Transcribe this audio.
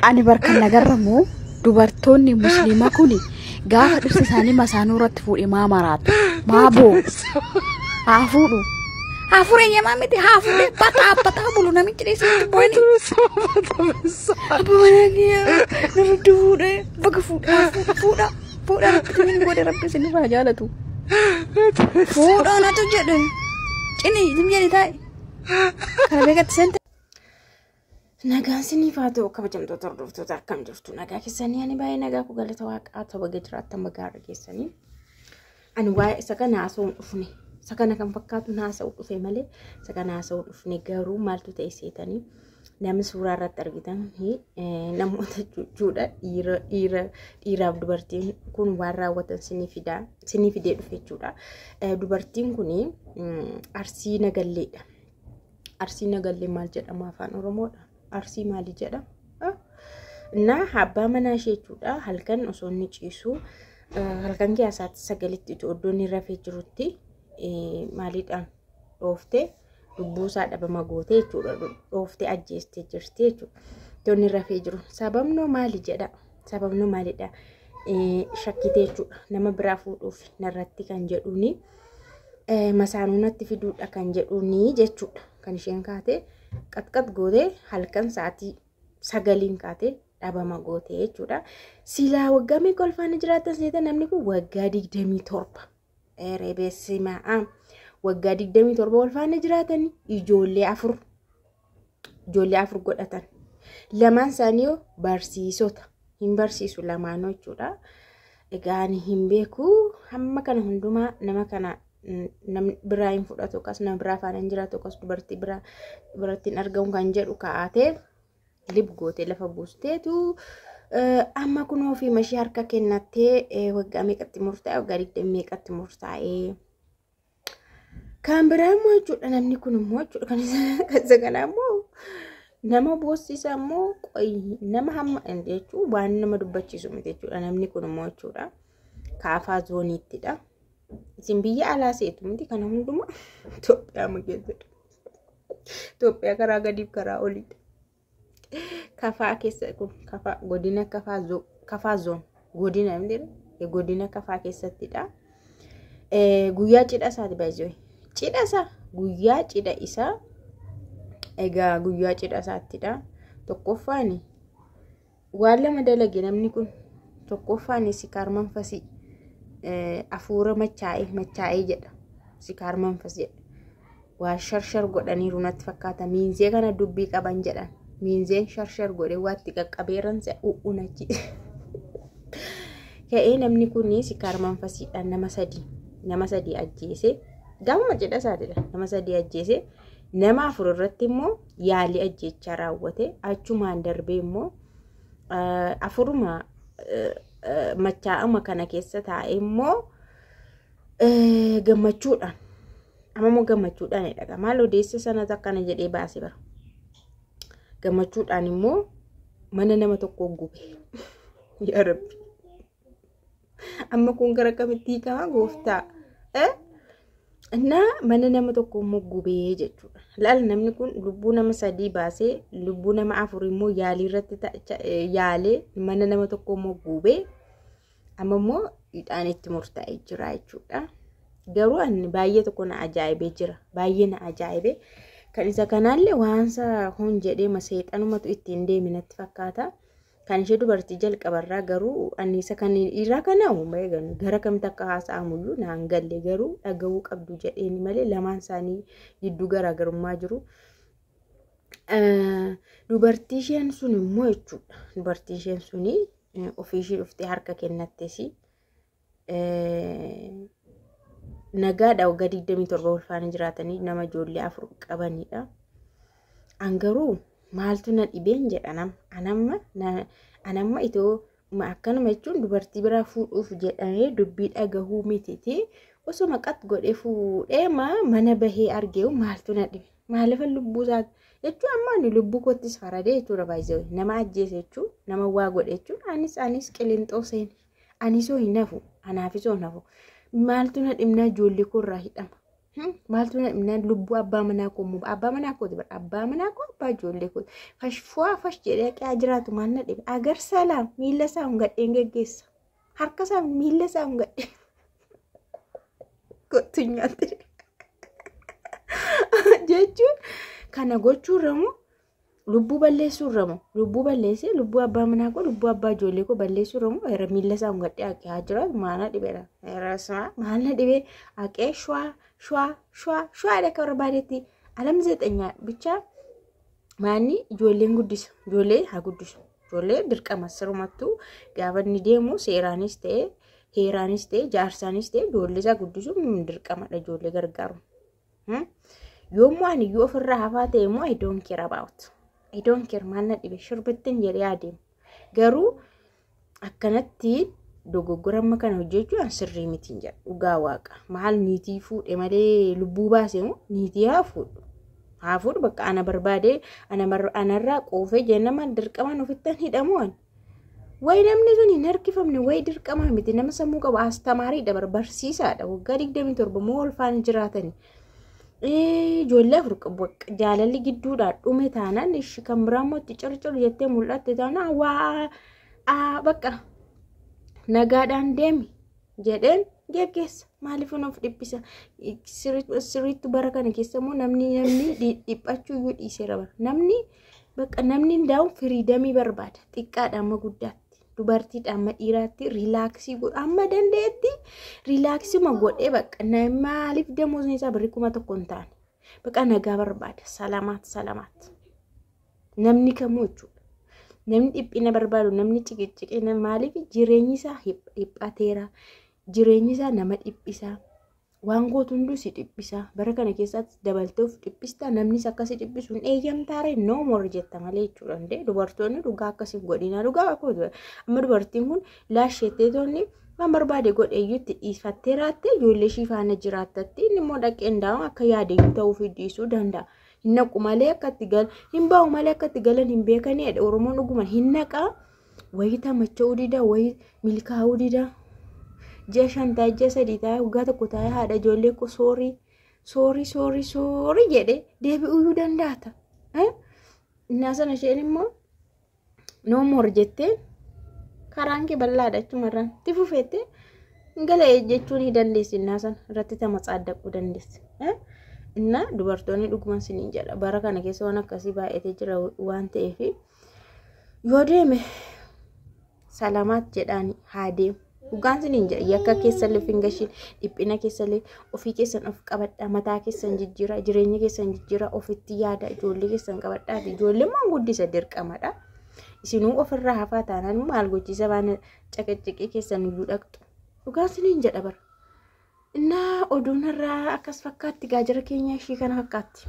Ani barkan nagarramu dubartoonni musliima kuni gaafa dhirsi isaanii masaanuu irratti fuudhe maa maraatu maa boo haa fuudhu haa fuudhe yamaa miti haa fuudhe bataa bataa bulu namichi dhiisee booni nurratti fuudhe baga fuudhe haa fuudhu fuudha fuudha rabbi inni godhe rabbi isin irraa jaalatu fuudha natu jedhe cini zim jedhi taa'e kana beekatti sente Nagaan siniif haa ta'u kabajamtoota hordoftoota akkam jirtu nagaa keessanii ani baay'ee nagaa koo galata waaqaa ta'u baga jiraattan baga har'a keessanii ani waa'ee isa kana haasa'uun dhufne isa kana kan fakkaatu haasa'uu dhufe malee isa kana haasa'uu dhufne garuu maaltu ta'e seetanii namni suuraa irratti argitan namoota jechuudha dhiira dhiira dhiiraaf dubartiin kun waan raawwatan sinii fidaa sinii fidee dhufe jechuudha dubartiin kun arsii nagalleedha. Arsii nagallee maal jedhama afaan Oromoodha? Arsii maali jedha? Naa abbaa manaa ishee jechuudha halkan osoo inni ciisu halkan keessatti sagalitti itti oddoo inni rafee jirutti maaliidhaan dhooftee lubbuu isaa dhabama gootee jechuudha dhooftee ajjeestee jirti jechuudha. Itti inni rafee jiru sababnoo maali jedha? Sababni maalidha? Shakkitee jechuudha. Nama biraa fuudhuuf narratti kan jedhuuni masaanuu natti fiduudha kan jedhuuni jechuudha. Kan isheen kaatee qaxqax gootee halkan sa'aatii sagaliin kaatee dhabama gootee jechuudha. Silaa waggaa meeqa ulfaana jiraatan seeta namni kun waggaa digdamii torba. Eree beessimaa a waggaa 27 wal faana jiraatanii ijoollee afur ijoollee afur godhatan lamaan isaanii yoo barsiisota hin barsiisu lamaanoo jechuudha. Egaa ani hin beeku hamma kana hundumaa nama kana namni biraa hin fudhatu akkas nama biraa faana hin jiraatu akkas dubartii biraa dubartiin argamu kan jedhu kaa'atee lib goote lafa buusteetu amma kun ofii mashii harka kennattee waggaa meeqatti murtaa'e waggaa digdamii meeqatti murtaa'e. Kan biraa immoo jechuudha namni kun immoo jechuudha kan isa kanaa immoo nama boossisa immoo qoyi nama hamma jechuun waan nama dubbachiisu miti jechuudha namni kun immoo jechuudha kaafaa zooniittidha. Isin biyya alaa seetu miti kana hundumaa Itoophiyaa keessatti. Itoophiyaa karaa gadiif karaa oliidha. Kafaa keessa kun kafaa godina kafaa zo- kafaa zoon godina hin jedhu, eh, godina kafaa keessattidha. Eh, Guyyaa cidha isaati baay'ee cidha isaa guyyaa cidha isaa egaa guyyaa cidha isaattidha tokkoffaani Waan lama dalage namni kun tokkoffaan sikaar manfasii afuura machaa'ee machaa'ee jedha sikaar manfas jedha waan sharshar godhaniiru natti fakkaata miinzee kana dubbii qaban jedhan miinzeen sharshar godhee waatti qaqqabeeran se'a u'uun achi ka'ee namni kun sikaar manfasiidhaan nama sadii nama sadii ajjeese gaamuma cidha isaatidha nama sadii ajjeese nama afur irratti immoo yaalii ajjechaa raawwate achumaan darbee immoo afuruma machaa'ama kana keessa taa'e immoo gammachuudhaan amma immoo gammachuudhaan jedha maal odeessa sanas akkana jedhee baase bara gammachuudhaan immoo mana nama tokkoo gube yaa rabbi Amma kun gara kamitti hiikama gooftaa? Eh? Innaa mana nama tokko immoo gubee jechuudha. Laal namni kun lubbuu nama sadii baasee lubbuu nama afur immoo yaalii irratti ta- cha- eh, yaalee mana nama tokko immoo gubee amma immoo hidhaan itti murtaa'ee jira jechuudha. Garuu ani baay'ee tokko na ajaa'ibee jira. Baay'ee na ajaa'ibee. Kan isa kanaallee waansa hoon jedhee ma seexanumatu ittiin deeme natti fakkaata. Kan ishee dubartii jalqabarraa garuu anniisa kan dhiiraa kana uumaa eegan gara kamitti akka haasa'amuyyuu naan galle garuu dhaga'uu qabdu jedheeni malee lamaan isaanii gidduu garaagarummaa jiru. Dubartii isheen sun immoo jechuudha. Dubartii isheen suni ofii ishee dhuftee harka kennattesi. nagaadha waggaa 27 ulfaanii jiraatanii nama ijoollee afur qabanidha. An garuu maaltu na dhibeen jedha nama. Anamma na- anamma itoo ma- akkanuma jechuun dubartii biraa fuudhuuf jedhamee dubbii dhagahuu mititi. Osoo maqat godhee fuudhee maa mana bahee argeewu maaltu na dhibe. Maalifan lubbuu isaa jechuun amma ani lubbuu koottis faradee jechuudha baay'isee nama ajjeese jechuun nama waa godhe jechuun anis anis qilinxoo seene Anisoo hin hafu. Anaafisoo hin hafu. Maaltu na dhimnaa ijoollee koo irraa hidhama. Hmm? Maaltu na dhimnaa lubbuu abbaa manaa koo immoo abbaa manaa kooti bara abbaa manaa koo abbaa ijoollee kooti. Fash fuwaa fash jedhee haqaa jiraatu maal na dhibe. Agar salaam miila isaa hungadheen geggeessa. Harka isaa miila isaa hungadhee. Kottu nyaatti. Jechuun kana gochuurra immoo Lubbuu balleessuu irra moo lubbuu balleessee lubbuu abbaa manaa koo lubbuu abbaa ijoollee koo balleessuu irra moo irra miilla isaa hungadhee haqee haa jiraatu maana dhibera irrasuma maana dhibee haqee shwaa shwaa shwaa shwaa dha akka barbaadetti alam zeexanyaa bichaa maanni ijoolleen guddisa ijoollee haa guddisu ijoollee dirqama sirumattuu gaafa inni deemu seeraanis ta'e heeraanis ta'e jaarsaanis ta'e ijoollee isaa guddisuun dirqamadha ijoollee gargaaru. Hmm? Yommuu ani iyyuu ofirraa hafaa ta'e immoo I don't care about. I don't care maal na dhibe shirbittiin jedhee adeemu. Garuu akkanatti dogoggora amma kana hojjechuu an sirrii miti hin jedhu dhugaa waaqa maal niitii fuudhe malee lubbuu baase moo niitii haa fuudhu haa fuudhu bakka ana barbaade ana mar- anarraa quufee jennama dirqamaan ofittan hidhamuun Wayi namni sun hin harkifamne wayi dirqamaa miti nama sammuu qabu astamaarii dabar barsiisaadha waggaa digdamii torba moo ulfaan jiraatani. Ijoollee afur qabu jaalalli gidduudhaa dhume taanaan ishi kan biraa immoo itti circir jettee mul'atte taanaan waa bakka nagaadhaan deemi jedheen geggeessa maaliif nuuf dhiphisa sirriitti bara kana keessa immoo namni namni dhiphachuu iyyuu dhiiseera bara namni Bakka namni hundaa'u firiidamii barbaada. Xiqqaadha amma guddaatti. Dubartiidha amma dhiiraatti riilaaksii godha. Amma dandeetti riilaaksima godhee bakka maaliif damoosni isaa birrii kuma tokko hin taane. Bakka nagaa barbaada. Salamaat salamaat. Namni kamuu jechuudha. Namni dhiphina barbaadu namni ciqiciqina maaliif jireenyi isaa dhiphateera. Jireenyi isaa nama dhiphisaa. Waan gootu hunduu si dhiphisa. Bara kana keessaatti dabaltee of dhiphista. Namnis akkasi dhiphisu hin eeyyamtaare no more jetta malee jechuudha. Hundee dubartoonni dhugaa akkasi hin godhina. Dhugaa akkuma ture. Amma dubartiin kun laasheettee toonni waan barbaade godhe iyyutti dhiifattee raatte ijoollee ishii faana jiraattatti inni immoo dhaqee hundaa'u akka yaade iyyuu ta'uu fi dhiisuu danda'a. Hin naqu malee akka itti gal hin bahu malee akka itti galan hin beekaniidha. Oromoon dhuguma hin naqaa. Wayitaa macha'uu didaa wayii milkaa'uu didaa. Ji'a shan taa'e ji'a sadii taa'e waggaa tokko taa'e haadha ijoollee koo soorii soorii soorii soorii jedhee deebi'uu dandaata. Innaa sana isheen immoo no more jettee karaan kee bal'aadha achumarraan itti fufeette gala jechuun ni dandeessi innaa sana irratti tama tsaaddaquu dandeessi. Innaa dubartoonni dhuguman siniin jedha bara kana keessa waan akkasii baay'atee jira waan ta'eef. yoo deeme salamaat jedhaani haa deemu. Dhugaan siniin jedha yakka keessallee of hin gashiin dhiphina keessallee ofii keessan of qabadha mataa keessan jijjiira jireenya keessan jijjiira ofitti yaada ijoollee keessan qabadha ijoollee maan guddisa dirqamadha. Isinuu ofirraa hafaa taanaan maal gochiisa waan caqaccaqee keessan iyyuu dhaqxu. Dhugaan siniin jedha bara. Innaa oduun irraa akkas fakkaatti gaajara keenya ishii kana fakkaatti.